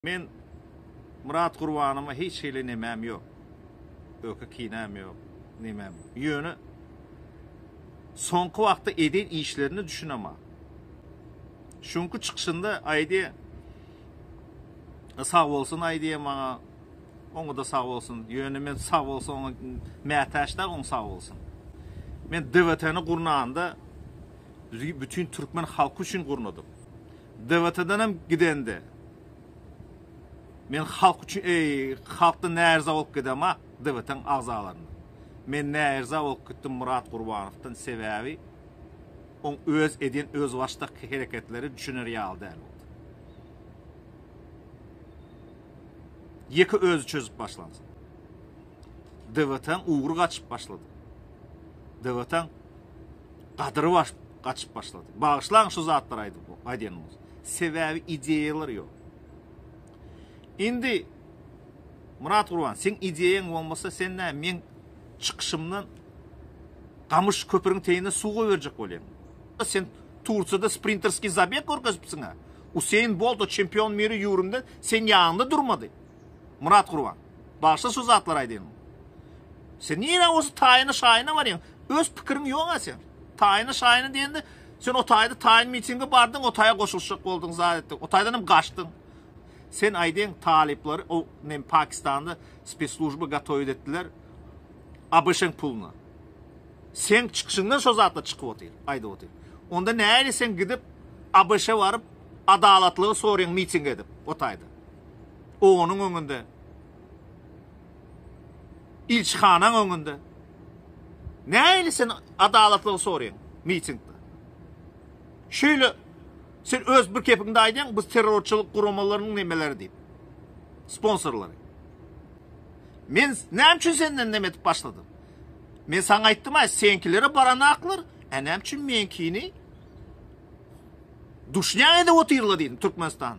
Men Myrat Gurbanyma hiç hili nemäm ýok. Öki kinäm ýok, nemäm ýok. Ýöne soňky wagtda eden işlerine düşüneman. Şonky çykyşynda aýdy, sag bolsun aýdy maňa, oňa-da sag bolsun. Ýöne men sag bolsa oňa mätäç däl, oň sag bolsun. Men DWT-ni gurnanda, bütin türkmen halky üçin gurnadym. DWT-dan hem gidende men halk üçin eý halkdan näerza bolup gidema DWT-nyň agzalaryndan. Men näerza bolup gitdim Myrat Gurbanowdan sebäbi oň öz edýän özbaşdak hereketleri düşüner ýaly däl boldy. Ýeke özi çözüp başlansyn. Dewataň ugry gaçyp başlady. Dewataň gadyry baş, gaçyp başlady. Bagyşlaň şu zatlary aýdyp, aýdýanymyz. Sebäbi ideýalar ýok. Indi Murat Gurban, sen ideýaň bolmasa, sen nä men çykyşymdan gamyş köpüriň teýine suw goýberjek bolýaň. Sen Tursiýada sprinterskiý zabeg görkezipsiň-ä. Useýn Bolt o çempion miri ýüwrümde sen ýanyňda durmady. Murat Gurban. Bagyşla şu zatlary aýdanymy. Sen nirä bolsa taýyna şaýyna barýaň. Öz pikiriň ýok-a sen. Taýyna şaýyna diýende sen o taýda taýyn mitinge bardyň, o taýa goşulyşjak bolduň, zat etdiň. O taýdan hem gaçdyň. Sen aýdaň talyplary o nem Pakistanda spesslujba gatowit etdiler. ABŞ-yň puluna. Sen çykyşyňdan şo zatlar çykyp otyr, aýdyp otyr. Onda näli sen gidip ABŞ-a baryp adalatlygy soraýaň miting edip o taýda. Onuň öňünde, ilçihanaň öňünde näili sen adalatlygy soraýaň mitingde? Şeýle sen öz bir kepiňde aýdýaň, biz terrorçylyk guramalarynyň nemeleri diýip, sponsorlary. Men näme üçin senden näme edip başladym? Men saňa aýtdym, aý, seňkilere baran aklar, a näme üçin meňkini duşňa edip otyrlar diýdim Türkmenistan.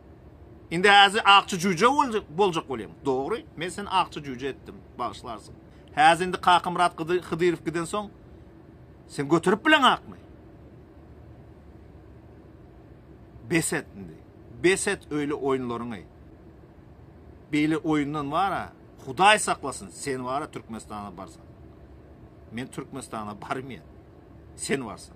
Indi häzi akja jüje boljak bolýaň. Dogry, men seni akja jüje etdim, bagyşlarsyň. Häzi indi Kakamyrat Hydyrow giden soň sen göterip bileň akmy? Bes et indi. Bes et öýle oýunlaryňy. Beýle oýundan wara, Hudaý saklasyn, sen wara Türkmenistana barsaň. Men Türkmenistana barmaýan. Sen barsaň.